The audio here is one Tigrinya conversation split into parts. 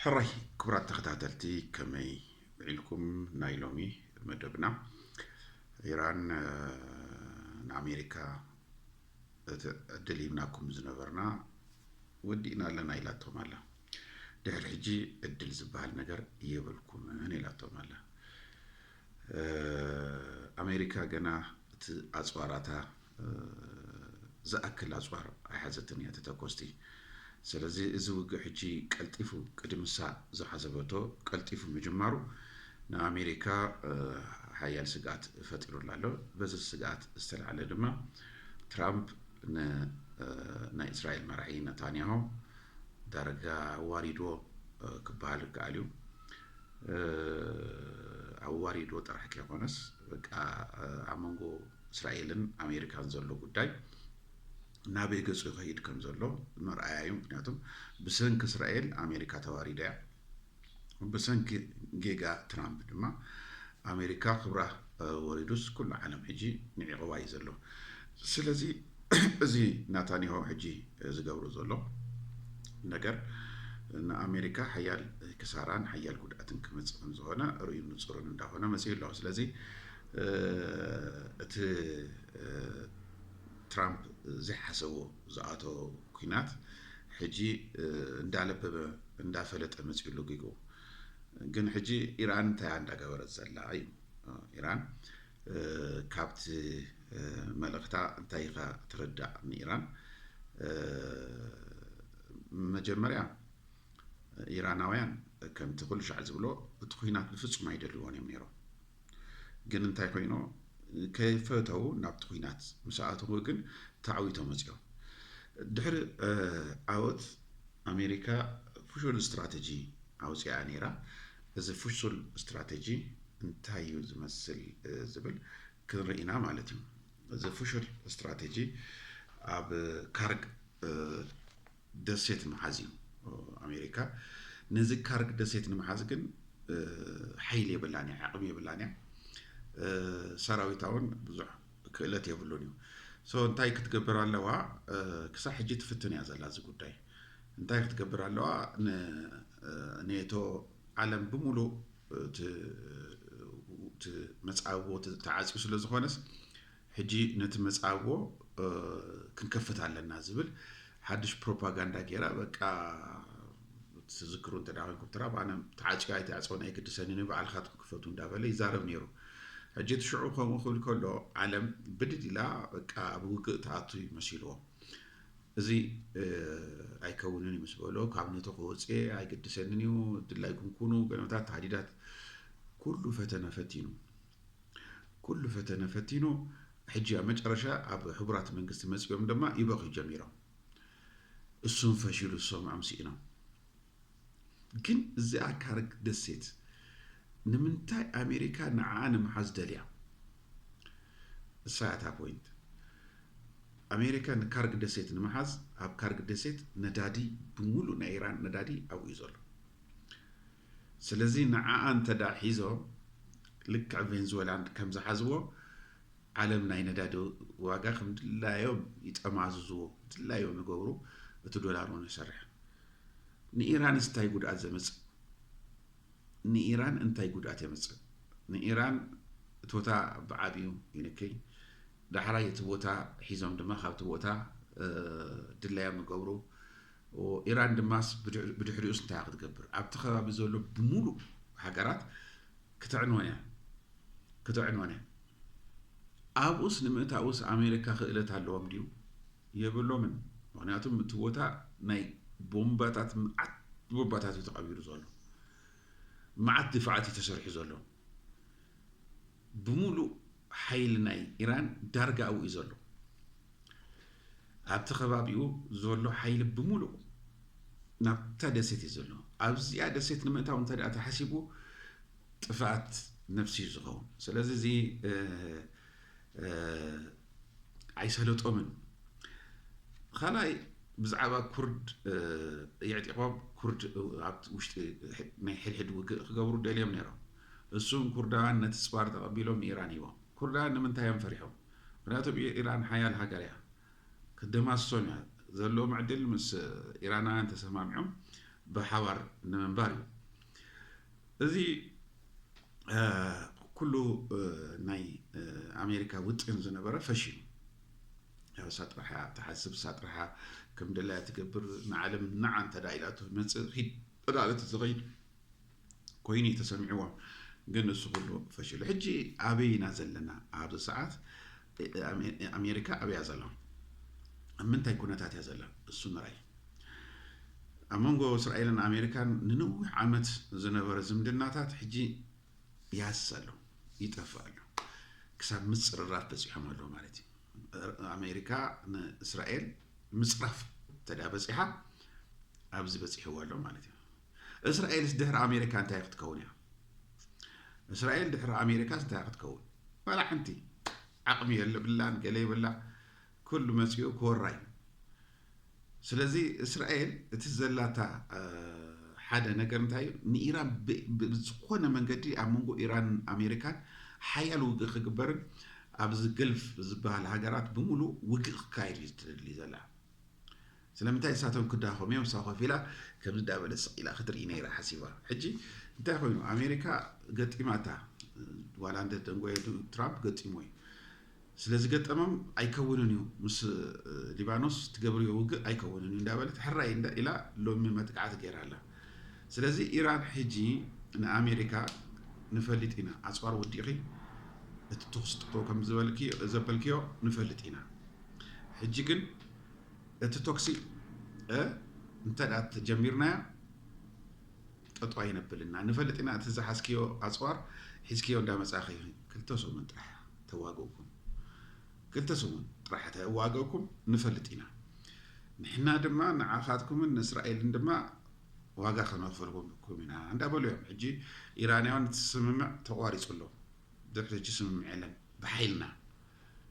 ሕራይ ክቡራት ተኸታተልቲ ከመይ ውዒልኩም ናይ ሎሚ መደብና ኢራን ንኣሜሪካ እቲ ዕድል ሂብናኩም ዝነበርና ወዲእና ኣለና ኢላቶም ኣላ ድሕሪ ሕጂ ዕድል ዝበሃል ነገር የብልኩምን ኢላቶም ኣላ ኣሜሪካ ገና እቲ ኣፅዋራታ ዝኣክል ኣጽዋር ኣይሓዘትን እያ እቲ ተኮስቲ። ሰለዚ እዚ ውግእ ሕጂ ቀልጢፉ ቅድምሳ ዝሓሰበቶ ቀልጢፉ ምጅማሩ ንኣሜሪካ ሓያል ስግኣት ፈጢሩላ ኣሎ። በዚ ስግኣት ዝተላዕለ ድማ ትራምፕ ንናይ እስራኤል መራሒ ነታንያሆ ዳርጋ ኣዋሪድዎ ክበሃል ይከኣል እዩ። ኣዋሪድዎ ጥራሕ ከይኮነስ በቃ ኣብ መንጎ እስራኤልን ኣሜሪካን ዘሎ ጉዳይ ናበይ ገጹ ይኸይድ ከም ዘሎ መርኣያ እዩ። ምክንያቱ ብሰንኪ እስራኤል ኣሜሪካ ተዋሪዳ እያ። ብሰንኪ ጌጋ ትራምፕ ድማ ኣሜሪካ ክብራ ወሪዱስ ኩሉ ዓለም ሕጂ ንዒቕዋ እዩ ዘሎ። ስለዚ እዚ ናታንያሆ ሕጂ ዝገብሮ ዘሎ ነገር ንኣሜሪካ ሓያል ክሳራን ሓያል ጉድኣትን ክመፅእ ከም ዝኾነ ርእዩ ንፁርን እንዳኾነ መፅኡ ኣሎ። ስለዚ እቲ ትራምፕ ዘይሓሰቦ ዝኣቶ ኩናት ሕጂ እንዳለበበ እንዳፈለጠ መፅኡ ሎጊጉ ግን ሕጂ ኢራን እንታይ እንዳገበረት ዘላ እዩ ኢራን ካብቲ መልእኽታ እንታይ ኢኻ ትርዳእ ንኢራን መጀመርያ ኢራናውያን ከምቲ ኩሉ ሻዕ ዝብሎ እቲ ኩናት ብፍፁም ኣይደልዎን እዮም ነይሮም ግን እንታይ ኮይኖ ከይፈተው ናብቲ ኩናት ምስ ኣተው ግን ተዓዊቶ መጽዮ ድሕሪ ዓወት ኣሜሪካ ፍሹል ስትራተጂ ኣውጽኣ ነይራ እዚ ፍሹል ስትራተጂ እንታይ እዩ ዝመስል ዝብል ክንርኢና ማለት እዩ እዚ ፍሹል ስትራተጂ ኣብ ካርግ ደሴት ምሓዝ እዩ ኣሜሪካ። ነዚ ካርግ ደሴት ንምሓዝ ግን ሓይሊ የብላን እያ፣ ዓቕሚ የብላን እያ። ሰራዊታ እውን ብዙሕ ክእለት የብሉን እዩ። ሶ እንታይ ክትገብር ኣለዋ? ክሳብ ሕጂ ትፍትን እያ ዘላ እዚ ጉዳይ። እንታይ ክትገብር ኣለዋ? ንኔቶ ዓለም ብምሉእ እቲ መጻብቦ ተዓፅዩ ስለ ዝኾነስ ሕጂ ነቲ መጻጎ ክንከፍት ኣለና ዝብል ሓድሽ ፕሮፓጋንዳ ጌራ በቃ ትዝክሩ እንተ ኮይንኩም ትራብ ኣነ ተዓፅዮ ኣይተዕፀውን ኣይግድሰንን እዩ ባዕልካትኩም ክፈቱ እንዳበለ ይዛረብ ነይሩ ሕጂ እቲ ሽዑ ከምኡ ክብል ከሎ ዓለም ብድድ ኢላ በቃ ኣብ ውግእ ትኣቱ እዩ መሲልዎ እዚ ኣይከውንን እዩ ምስ በሎ ካብ ነቶ ክወፅኤ ኣይግድሰንን እዩ ድላይኩም ኩኑ ገለመታት ተሃዲዳት ኩሉ ፈተነ ፈቲኑ ኩሉ ፈተነ ፈቲኑ ሕጂ ኣብ መጨረሻ ኣብ ሕቡራት መንግስቲ መጺኦም ድማ ይበኽዩ ጀሚሮም። እሱም ፈሺሉ ዝሰምዖም ስኢኖም። ግን እዚኣ ካርግ ደሴት ንምንታይ ኣሜሪካ ንዓኣ ንምሓዝ ደልያ? እሳ እያ እታ ፖይንት። ኣሜሪካ ንካርግ ደሴት ንምሓዝ ኣብ ካርግ ደሴት ነዳዲ ብምሉእ ናይ ኢራን ነዳዲ ኣብኡ እዩ ዘሎ። ስለዚ ንዓኣ እንተድኣ ሒዞም ልክዕ ቬንዝወላ ከምዝሓዝዎ ዓለም ናይ ነዳዲ ዋጋ ከምድላዮም ይጠማዝዝዎ ድላዮም ይገብሩ እቲ ዶላር ውን ይሰርሕ ንኢራንስ እንታይ ጉድኣት ዘምፅእ ንኢራን እንታይ ጉድኣት የምፅእ ንኢራን እቲ ቦታ ብዓብዩ ይንክይ ዳሕራይ እቲ ቦታ ሒዞም ድማ ካብቲ ቦታ ድላዮም ይገብሩ ኢራን ድማስ ብድሕሪኡስ እንታይ ክትገብር? ኣብቲ ከባቢ ዘሎ ብምሉእ ሃገራት ክተዕንወን እያ ክተዕንወን እያ። ኣብኡስ ንምእታውስ ኣሜሪካ ክእለት ኣለዎም ድዩ? የብሎምን። ምክንያቱም እቲ ቦታ ናይ ቦምባታት መዓት ቦምባታት እዩ ተቐቢሩ ዘሎ መዓት ድፋዓት እዩ ተሰሪሑ ዘሎ ብምሉእ ሓይሊ ናይ ኢራን ዳርጋ ኣብኡ እዩ ዘሎ። ኣብቲ ከባቢኡ ዘሎ ሓይሊ ብምሉእ ናብታ ደሴት እዩ ዘሎ። ኣብዚኣ ደሴት ንምእታው እንተ ተሓሲቡ ጥፍኣት ነፍሲ እዩ ዝኸውን። ስለዚ እዚ ኣይሰለጦምን። ካልኣይ ብዛዕባ ኩርድ የዕጢቖም ኩርድ ኣብ ውሽጢ ናይ ሕድሕድ ውግእ ክገብሩ ደልዮም ነይሮም። እሱም ኩርዳውያን ነቲ ጽባር ተቀቢሎም ንኢራን ሂቦም ኩርዳውያን ንምንታይ እዮም ፈሪሖም ምክንያቱ ብ ኢራን ሓያል ሃገር እያ ክትደማስሶም እያ ዘለዎም ዕድል ምስ ኢራናውያን ተሰማሚዖም ብሓባር ንምንባር እዩ እዚ ኩሉ ናይ ኣሜሪካ ውጥን ዝነበረ ፈሺሉ ያው እሳ ጥራሕ እያ ትሓስብ እሳ ጥራሕ እያ ከም ደላያ ትገብር ንዓለም ንዓ እንተ ኢላቶ መጽእ ኺድ እዳ ዝኸይድ ኮይኑ እዩ ተሰሚዕዎም ግን እሱ ኩሉ ፈሽሉ ሕጂ ኣበይ ኢና ዘለና ኣብዚ ሰዓት ኣሜሪካ ኣበያ ዘላ ኣብ ምንታይ ኩነታት እያ ዘላ እሱ ምራይ ኣብ መንጎ እስራኤልን ኣሜሪካን ንነዊሕ ዓመት ዝነበረ ዝምድናታት ሕጂ ያስ ኣሎ ይጠፍእ ኣሎ ክሳብ ምፅርራፍ በፂሖም ኣለዉ ማለት እዩ ኣሜሪካ ንእስራኤል ምፅራፍ ተዳ በፂሓ ኣብዚ በፂሕዎ ኣሎ ማለት እዩ እስራኤልስ ድሕሪ ኣሜሪካ እንታይ ክትከውን እያ? እስራኤል ድሕሪ ኣሜሪካስ እንታይ ክትከውን? ዋላ ሓንቲ ዓቕሚ የለብላን ገለ ይብላ ኩሉ መፂኡ ክወራ እዩ። ስለዚ እስራኤል እቲ ዘላታ ሓደ ነገር እንታይ እዩ ንኢራን ብዝኾነ መንገዲ ኣብ መንጎ ኢራን ኣሜሪካን ሓያል ውግእ ክግበርን ኣብዚ ገልፍ ዝበሃል ሃገራት ብምሉእ ውግእ ክካየድ እዩ ትደሊ ዘላ ስለምንታይ ንሳቶም ክዳኸሙ እዮም ንሳ ኮፍ ኢላ ከምዚ እንዳበለት ስቅ ኢላ ክትርኢ ነይራ ሓሲባ ሕጂ እንታይ ኮይኑ ኣሜሪካ ገጢማታ ዋላ እንተ ደንጎየ ትራምፕ ገጢሞ እዩ ስለ ዝገጠሞም ኣይከውንን እዩ ምስ ሊባኖስ ትገብርዮ ውግእ ኣይከውንን እዩ እንዳበለት ሕራይ እንዳ ኢላ ሎሚ መጥቃዕቲ ገይራ ኣላ ስለዚ ኢራን ሕጂ ንኣሜሪካ ንፈልጥ ኢና ኣፅዋር ወዲኺ እቲ ተኹሲ ጥፍኡ ከም ዘበልክዮ ንፈልጥ ኢና ሕጂ ግን እቲ ቶክሲ እንተ ተጀሚርናያ ጠጦ ኣይነብልና ንፈልጥ ኢና እቲ ዝሓዝክዮ ኣፅዋር ሒዝክዮ እንዳመፃኺ ክልተ ሰሙን ጥራሕ ተዋግእኩም ክልተ ሰሙን ጥራሕ ተዋግእኩም ንፈልጥ ኢና ንሕና ድማ ንዓኻትኩምን ንእስራኤልን ድማ ዋጋ ከነኽፈልኩም ኢና እንዳበሉ እዮም ሕጂ ኢራንያውን እቲ ስምምዕ ተቋሪፁ ኣሎ ድሕሪ ሕጂ ስምምዕ የለን ብሓይልና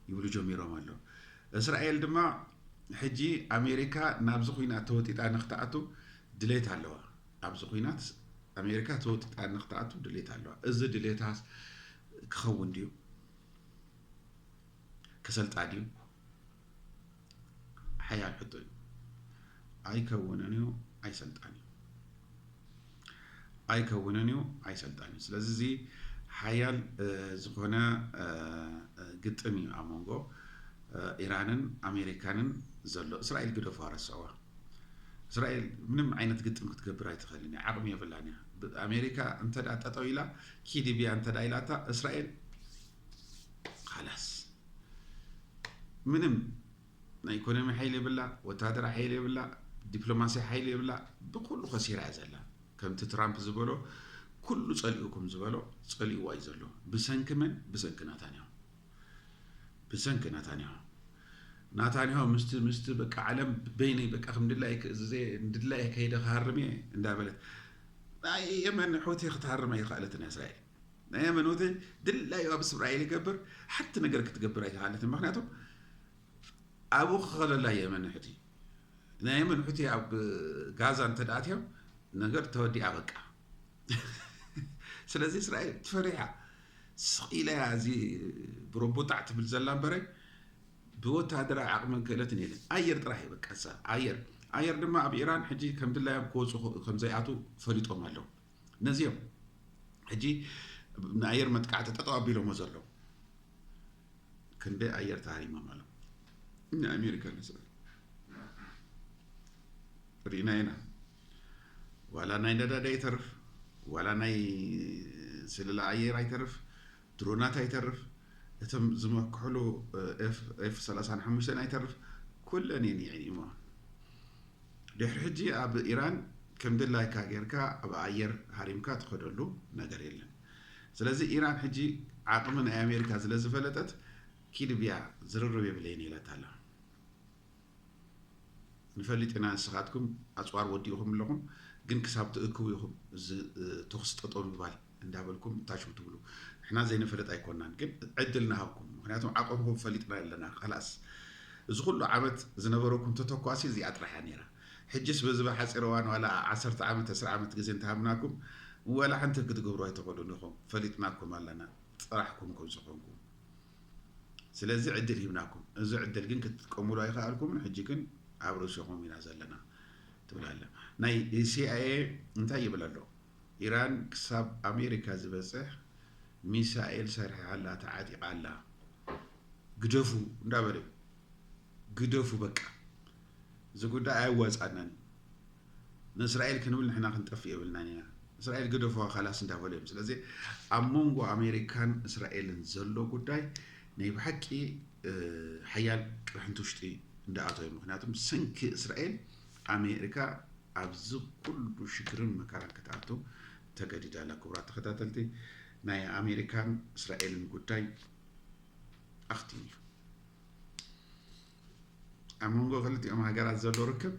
ይብሉ ጀሚሮም ኣለው። እስራኤል ድማ ሕጂ ኣሜሪካ ናብዚ ኹናት ተወጢጣ ንክትኣቱ ድሌት ኣለዋ። ኣብዚ ኹናት ኣሜሪካ ተወጢጣ ንክትኣቱ ድሌት ኣለዋ። እዚ ድሌታ ክኸውን ድዩ? ክሰልጣ ድዩ? ሓያል ሕቶ እዩ። ኣይከውንን እዩ ኣይሰልጣን እዩ ኣይከውንን እዩ ኣይሰልጣን እዩ ስለዚ እዚ ሓያል ዝኾነ ግጥም እዩ ኣብ መንጎ ኢራንን ኣሜሪካንን ዘሎ እስራኤል ግደፉ ኣረስዕዋ እስራኤል ምንም ዓይነት ግጥም ክትገብር ኣይትኽእልን እያ ዓቕሚ የብላን እያ ኣሜሪካ እንተ ጠጠው ኢላ ኪድብያ እንተ ኢላታ እስራኤል ኻላስ ምንም ናይ ኢኮኖሚ ሓይሊ የብላ፣ ወታደራ ሓይሊ የብላ፣ ዲፕሎማሲ ሓይሊ የብላ፣ ብኩሉ ከሲራ እያ ዘላ። ከምቲ ትራምፕ ዝበሎ ኩሉ ጸሊኡኩም ዝበሎ ጸሊኡዋ እዩ ዘሎ። ብሰንኪ መን? ብሰንኪ ናታንያሁ ብሰንኪ ናታንያሁ ናታንያሁ ምስቲ ምስቲ በቃ ዓለም በይነይ በቃ ከም ድላይ ክእዝዘ ድላይ ከይደ ክሃርም እየ እንዳበለት ናይ የመን ሑቲ ክትሃርም ኣይኸኣለትን እያ እስራኤል ናይ ኣመኖተ ድላዩ ኣብ እስራኤል ይገብር ሓንቲ ነገር ክትገብር ኣይተኻለትን ምክንያቱ ኣብኡ ክኸለላ የመን ሑቲ ናይ የመን ሑቲ ኣብ ጋዛ እንተደኣትዮም ነገር ተወዲኣ በቃ ስለዚ እስራኤል ትፈሪሓ ስቂላ እያ እዚ ብሮቦጣዕ ትብል ዘላ እምበረ ብወታደራዊ ዓቕምን ክእለትን የለን ኣየር ጥራሕ እዩ በቃ ኣየር ኣየር ድማ ኣብ ኢራን ሕጂ ከም ድላዮም ክወፁ ከም ዘይኣትው ፈሊጦም ኣለዉ ነዚ እዮም ሕጂ ንኣየር መጥቃዕቲ ጠጠው ኣቢሎሞ ዘለዉ ክንደይ ኣየር ተሃሪሞም ኣለዉ ንኣሜሪካ ንስዕብ ርኢና ኢና ዋላ ናይ ነዳዲ ኣይተርፍ ዋላ ናይ ስልላ ኣየር ኣይተርፍ ድሮናት ኣይተርፍ፣ እቶም ዝመክሕሉ ኤፍ ሰላሳን ሓሙሽተን ኣይተርፍ ኩለን እየን ይዕይማ። ድሕሪ ሕጂ ኣብ ኢራን ከም ድላይካ ጌርካ ኣብ ኣየር ሃሪምካ ትኸደሉ ነገር የለን። ስለዚ ኢራን ሕጂ ዓቕሚ ናይ ኣሜሪካ ዝለዝፈለጠት ኪድብያ ዝርርብ የብለይን ኢላታ ኣላ። ንፈልጥ ኢና ንስኻትኩም ኣጽዋር ወዲእኹም ኣለኹም ግን ክሳብ ትእክቡ ኢኹም እዚ ተኹሲ ጠጠው ምግባር እንዳበልኩም እታሽው ትብሉ ንሕና ዘይንፈልጥ ኣይኮናን ግን ዕድል ንሃብኩም ምክንያቱም ዓቐምኹም ፈሊጥና ኣለና ካላስ እዚ ኩሉ ዓመት ዝነበረኩም ተተኳሲ እዚኣ ጥራሕያ ነይራ ሕጅስ በዚ ብሓፂር እዋን ዋላ ዓሰርተ ዓመት ዕስራ ዓመት ግዜ እንተሃብናኩም ወላ ሓንቲ ክትገብሩ ኣይትኽእሉን ኢኹም ፈሊጥናኩም ኣለና ጥራሕኩም ከም ዝኾንኩም ስለዚ ዕድል ሂብናኩም እዚ ዕድል ግን ክትጥቀሙሉ ኣይኸኣልኩምን ሕጂ ግን ኣብ ርእስኹም ኢና ዘለና ትብል ኣለ ናይ ሲኣይኤ እንታይ ይብል ኣሎ ኢራን ክሳብ ኣሜሪካ ዝበፅሕ ሚሳኤል ሰርሒሓ ኣላ ተዓጢቓ ኣላ ግደፉ እንዳበለ ግደፉ በቃ እዚ ጉዳይ ኣየዋጽኣናን እዩ ንእስራኤል ክንብል ንሕና ክንጠፍእ የብልናን ኢና እስራኤል ግደፉዋ ካላስ እንዳበሉ እዮም ስለዚ ኣብ መንጎ ኣሜሪካን እስራኤልን ዘሎ ጉዳይ ናይ ብሓቂ ሓያል ቅርሕንቲ ውሽጢ እንዳኣቶ እዩ ምክንያቱ ሰንኪ እስራኤል ኣሜሪካ ኣብዚ ኩሉ ሽግርን መከራን ክትኣቱ ተገዲዳ ኣላ ክቡራት ተኸታተልቲ ናይ ኣሜሪካን እስራኤልን ጉዳይ ኣኽቲሙ እዩ ኣብ መንጎ ክልቲኦም ሃገራት ዘሎ ርክብ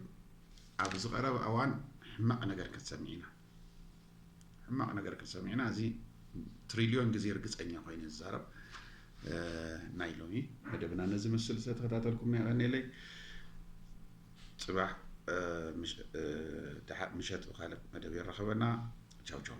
ኣብ ዝቐረበ እዋን ሕማቕ ነገር ክንሰምዕ ኢና ሕማቕ ነገር ክንሰምዕ ኢና እዚ ትሪልዮን ግዜ ርግፀኛ ኮይነ ዝዛረብ ናይ ሎሚ መደብና ነዚ ምስል ዝተተኸታተልኩም ነቐኒለይ ፅባሕ ምሸት ብካልእ መደብ የራኸበና ቻው ቻው